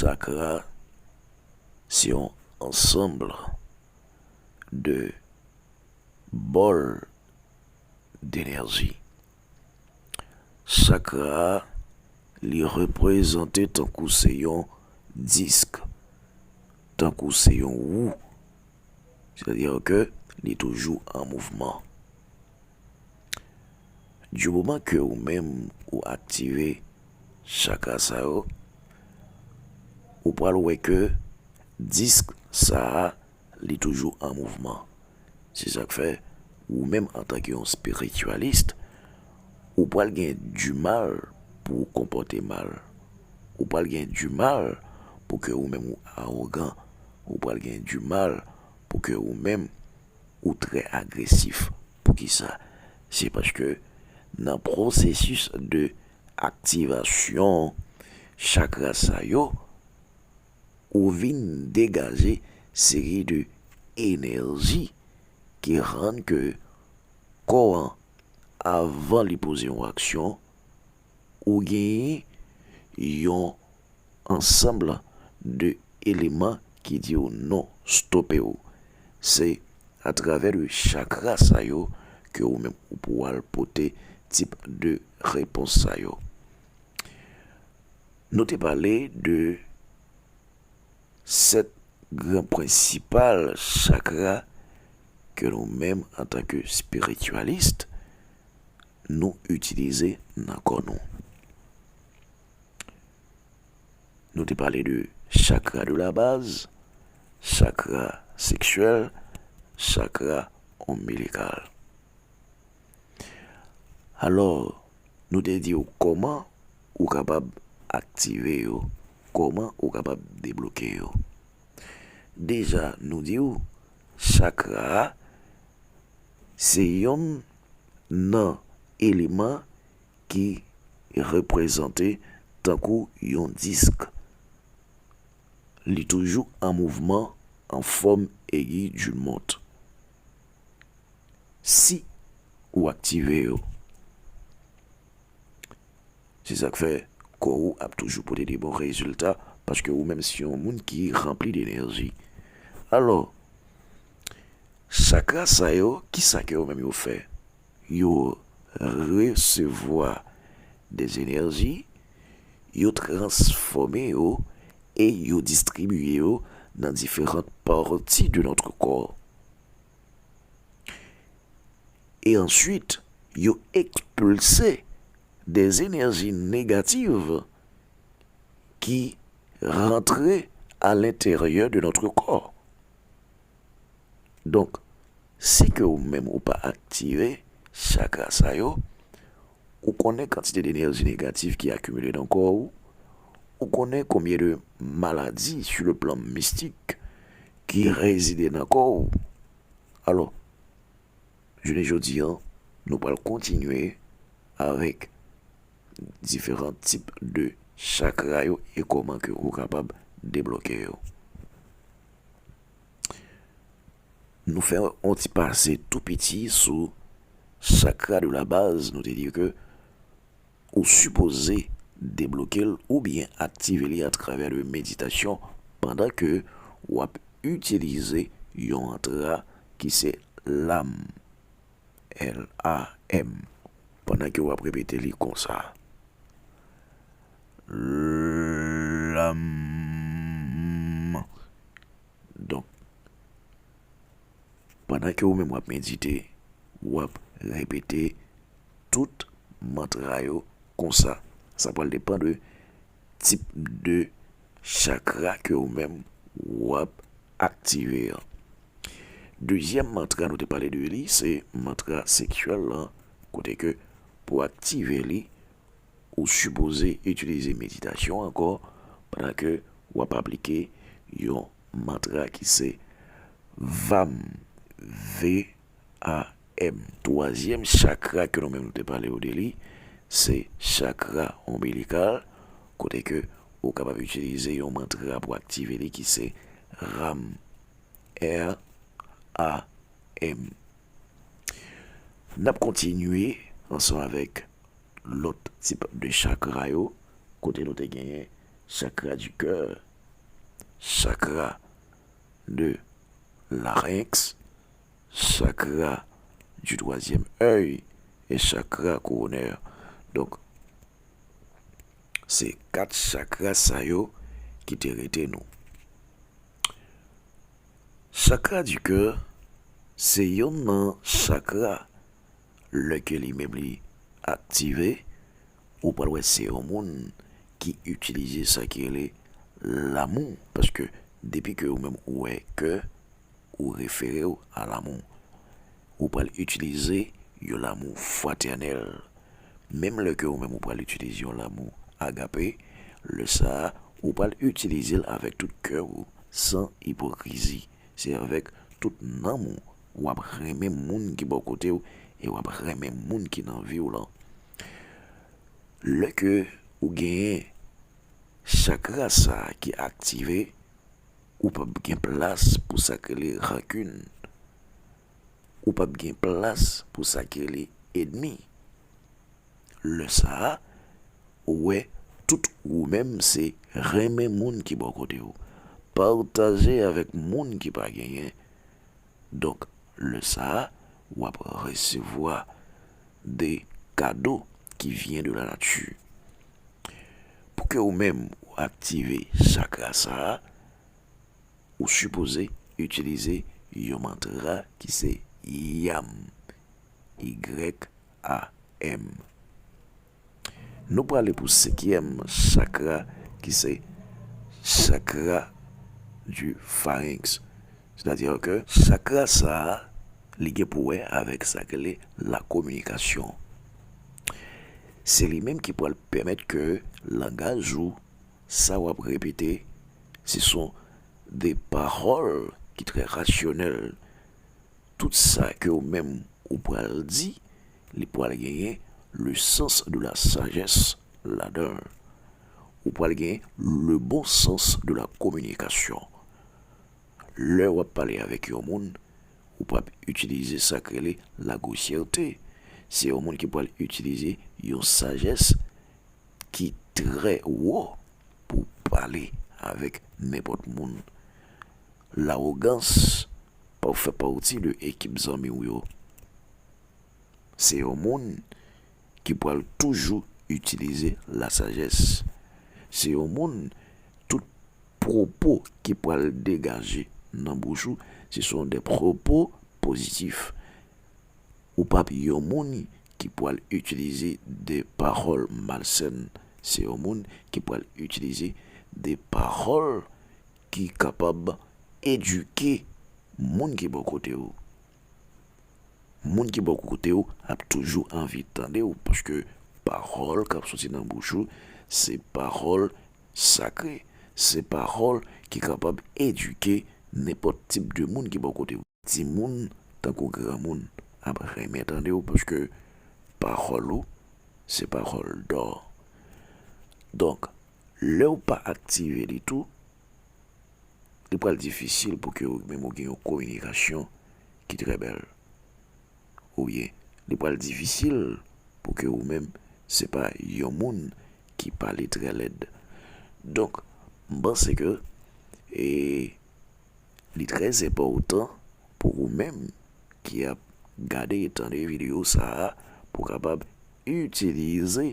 Chakra se yon ansanb de bòl denèji. Chakra a li reprezante tankou se yon disk, tankou se yon wou, sètadi ke li toujou an mouvman. Du moman ke ou menm ou aktive chakra sa yo, ou pral wè ke disk sa a li toujou an mouvman. Se sak fè ou menm antanke yon spiritualist, ou pral gen du mal pou ou konpòte mal. Ou pral gen du mal pou ke ou menm ou arogan. Ou pral gen du mal pou ke ou menm Ou trè agresif poukisa se paske nan pwosesis de aktivasyon chakra sa yo ou vin degaje seri de enèji ki rann ke kò an avan li poze yon aksyon ou genyen yon ansanbl de eleman ki di w non, stope w. Se a travè de chakra sa yo ke ou menm ou pou al pote tip de repons sa yo. Nou te pale de 7 gran prensipal chakra ke nou menm antanke spirityalist, nou itilize nan kò nou. Nou te pale de chakra de la baz, chakra seksyèl, chakra onbilikal. Alò, nou te di ou kòman ou kapab aktive yo, kòman ou kapab debloke yo. Deja nou di ou chakra se yonn nan eleman ki reprezante tankou yon disk. Li toujou an mouvman an fòm egi du mont. Si ou aktive yo, se sa k fè kò ou ap toujou pote de bon rezilta paske ou menm se yon moun ki ranpli de enèji. Alò, Chakra sa yo, ki sa ke yo menm yo fè? Yo resevwa de enèji, yo transfòme yo e yo distribye yo nan diferant pati de notre kò. E answit, yo ekspilse de enèji negativ ki rantre a lenteryè de notre kò. Donk, si ke ou menm ou pa aktive chakra sa yo, ou konnen kantite de enèji negatif ki akimile nan kò ou, ou konnen konbyen de maladi sou le plan mistik ki rezide nan kò ou. Alò, jounen jodi an, nou pral kontinye avèk diferan tip de chakra yo e kòman ke ou kapab deblòke yo. Nou fè yon ti pase tou piti sou chakra de la baz, nou te di ke ou sipoze debloke l ou byen aktive li atravè de meditasyon pandan ke w ap itilize yon antra ki se lam, L-A-M, pandan ke w ap repete li konsa. Lanmou. Donk, pandan ke ou menm w ap medite, w ap repete tout mantra yo konsa. Sa pral depan de tip de chakra ke ou menm w ap aktive an. Dezyèm mantra nou te pale de li se mantra seksyèl lan, kote ke pou aktive li. Ou sipoze itilize meditasyon ankò pandan ke w ap aplike yon mantra ki se vam, V-A-M. Twazyèm chakra ke nou menm nou te pale ou de li, se chakra onbilikal, kote ke ou kapab itilize yon mantra pou aktive li ki se ram, R-A-M. N ap kontinye ansanm avèk. Lòt tip de chakra yo, kote nou te genyen chakra du coeur, chakra de larynx, chakra du troisième oeil et chakra coronaire. Donk se 4 chakra sa yo ki te rete nou. Chakra du coeur se yonn nan chakra lè ke li menm li aktive, ou pral wè se yon moun ki itilize sa ki rele lanmou, paske depi ke ou menm ou wè kè, ou refere ou a lanmou. Ou pral itilize yon lanmou fratènèl, menm lè ke ou menm ou pral itilize yon lanmou agape, lè sa a, ou pral itilize l avèk tout kè ou, san ipokrizi, se avèk tout nanm ou w ap renmen moun ki bò kote w e w ap renmen moun ki nan vi w lan. Lè ke ou genyen chakra sa ki aktive, ou p ap gen plas pou sa ki rele rankin, ou p ap gen plas pou sa ki rele edmi. Lè sa a, ou wè tout ou menm se renmen moun ki bò kote w, pataje avèk moun ki pa genyen. Donk lè sa a ou ap resevwa de kado ki vyen de la nati. Pou ke ou menm ou aktive chakra sa a, ou sipoze itilize yon mantra ki se YAM. Y-A-M. Nou prale pou senkyèm chakra ki se chakra di farenks. Se ta di ke chakra sa a li gen pou wè avèk sa ki rele la kominikasyon. Se li menm ki pral pèmèt ke langaj ou sa wap repete se son de pawòl ki trè rasyonèl. Tout sa ke ou menm ou pral di, li pral genyen le sans de la sajès ladan l. Ou pral gen le bon sans de la kominikasyon. Lè w ap pale avèk yon moun, ou pap itilize sa k rele la gwosyète. Se yon moun ki pral itilize yon sajès ki trè wo pou pale avèk nenpòt moun. lawogans pa w fè pati de ekip zanmi w yo. Se yon moun ki pral toujou itilize lasajès. Se yon moun tout pwopo ki pral degaje nan bouch ou se son de pwopo pozitif. Ou pa p yon moun ki pral itilize de pawòl malsèn. Se yon moun ki pral itilize de pawòl. Ki kapab edike moun ki bò kote w. Moun ki bò kote w ap toujou anvi tande w paske pawòl k ap soti nan bouch ou se pawòl sakre, se pawòl ki kapab edike nenpòt tip de moun ki bò kote w. Timoun tankou granmoun ap renmen tande w paske pawòl ou se pawòl dò. Donk lè w pa aktive li tou, li pral difisil pou ke ou menm ou gen yon kominikasyon ki trè bèl. Oubyen li pral difisil pou ke ou menm se pa yon moun ki pale trè lèd. Donk m panse ke e. Li trè enpòtan pou ou menm ki ap gade e tande videyo sa a pou kapab itilize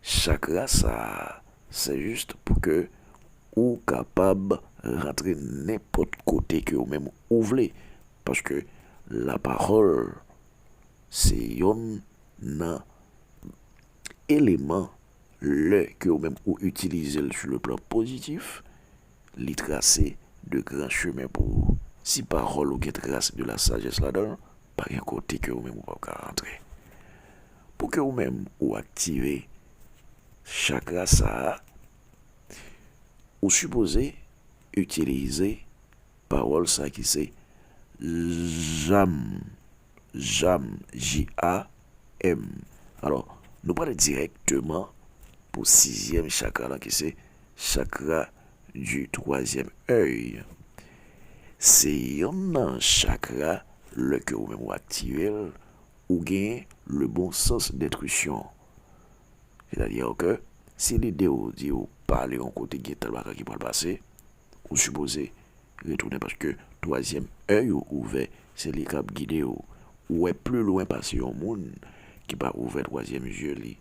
chakra sa a. Se jis pou ke ou kapab rantre nenpòt kote ke ou menm ou vle. Paske la pawòl se yonn nan eleman lè ke ou menm ou itilize l sou le plan pozitif Li trase de gran chemen pou ou. Si pawòl ou gen tras de la sajès ladan l, pa gen kote ke ou menm ou pap ka rantre. Pou ke ou menm ou aktive chakra sa a, ou sipoze itilize pawòl sa ki se, Jam, Jam, J-A. M. Alò, nou prale dirèkteman pou sizyèm chakra lan ki se chakra di twazyèm èy. Se yon nan chakra lè ke ou menm ou aktive l, ou gen le bon sans dentwisyon. Sètadi ke si lide ou di ou pale yon kote gen tèl bagay ki pral pase, Ou sipoze retounen paske twazyèm è yo ouvè se li kap gide w ou wè pli lwen pase yon moun ki pa ouvè twazyèm zye li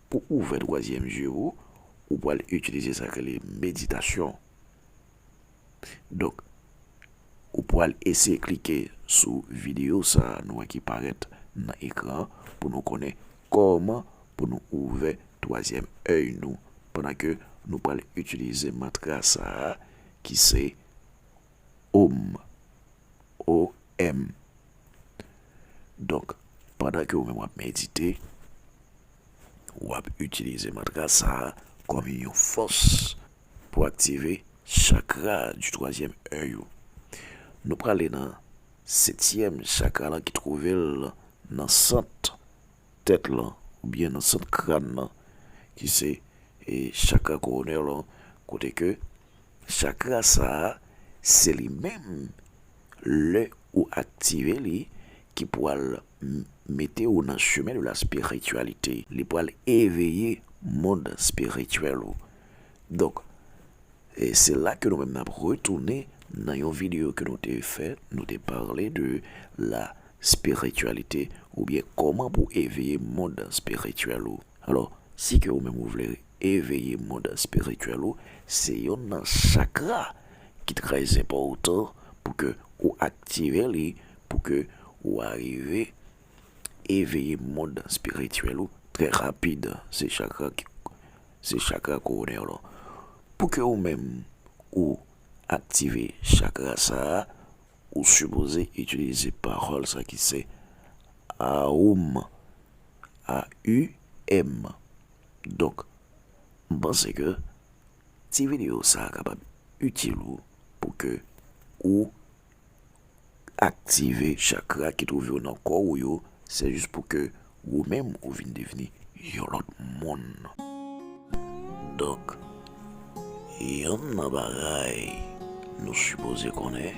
pou ouvè twazyèm zye ou ou pwal itilize sa krele meditasyon donk ou pwal eseye klike sou video sa nou wè ki parèt nan ekran pou nou konnen Kòman pou nou ouvè twazyèm èy nou pandan ke nou pral itilize mantra sa a ki se Om, O-M. Donk, pandan ke ou menm wap medite, wap itilize mantra sa a kòm yon fòs pou aktive chakra di twazyèm èy ou. Nou prale nan. Setyèm chakra lan ki twouve l nan sant tèt lan oubyen nan sant kran nan ki se chakra koronè lan kote ke chakra sa a se li menm lè ou aktive li ki pwal mete ou nan chemen de la spirityalite. Li pwal eveye mond spirityèl ou. Donk. E se la ke nou menm nap retounen nan yon video ke nou te fè, nou te parle de la spiritualite ou byen koman pou eveye mond spirituel ou. Alo, si ke ou menm ou vle eveye mond spirituel ou, se yonn nan chakra ki trè zenpòtan pou ke ou aktive li, pou ke ou arive. eveye mond spirityèl ou trè rapid se chakra ki se chakra koronè w lan pou ke ou menm ou aktive chakra sa ou sipoze itilize pawòl sa ki se awoum a u èm donk m panse ke ti videyo sa kapab itil ou pou ke ou aktive chakra ki twouve yo nan kò ou yo, se jis pou ke ou menm ou vin devni yon lòt moun. Donk, yonn nan bagay nou sipoze konnen,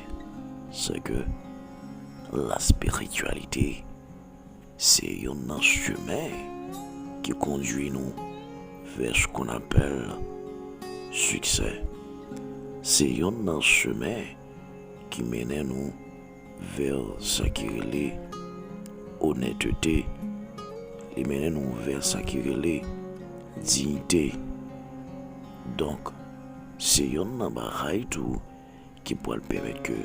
se ke laspirityalite se yonn nan chimen ki kondwi nou vè s kon apèl siksè. Se yonn nan chimen ki mennen nou vè sa ki rele onètete, li mennen nou vè sa ki rele diyite. Donk, se yonn nan bagay tou ki pral pèmèt ke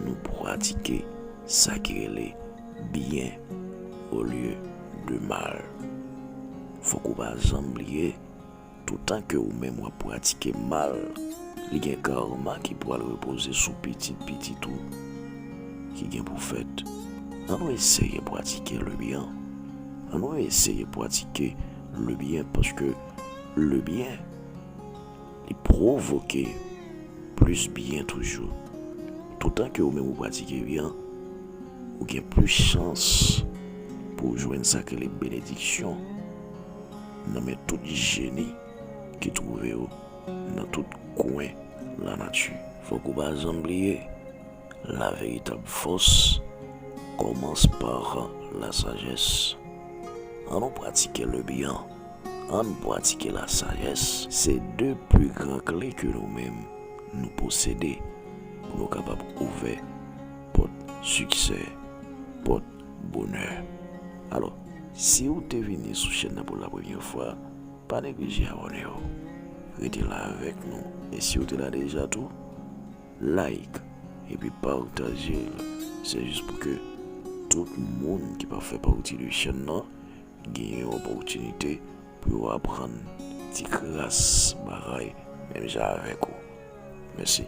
nou pratike sa ki rele byen olye de mal. Fòk ou pa janm bliye. Toutan ke ou menm wap pratike mal, li gen karma ki pwal repoze sou pitit pitit ou ki gen pou fèt. An nou eseye pwatike le byen. An nou eseye pwatike le byen paske le byen li pwovoke plis byen toujou. Toutan ke ou menm ou pratike byen, ou gen plis chans pou ou jwenn sa ki rele benediksyon. nan men tout jeni ki twouve yo nan tout kwen lanati. Fòk ou pa janm bliye, la veritab fòs kòmans par la sajès. An nou pratike le byen, an n pratike la sajès. Se de pli gran kle ke nou menm nou posede pou nou kapab ouvè pòt siksè, pòt. Bonè. Alò, si ou te vini sou chèn nan pou la premye fwa, pa neglije abòne yo. Rete la avèk nou. E si ou te la deja tou, like epi pataje l. Se jis pou ke tout moun ki pa fè pati de chèn nan gen yon opòtinite. Pou yo aprann ti kras bagay menm jan avèk ou. Mèsi.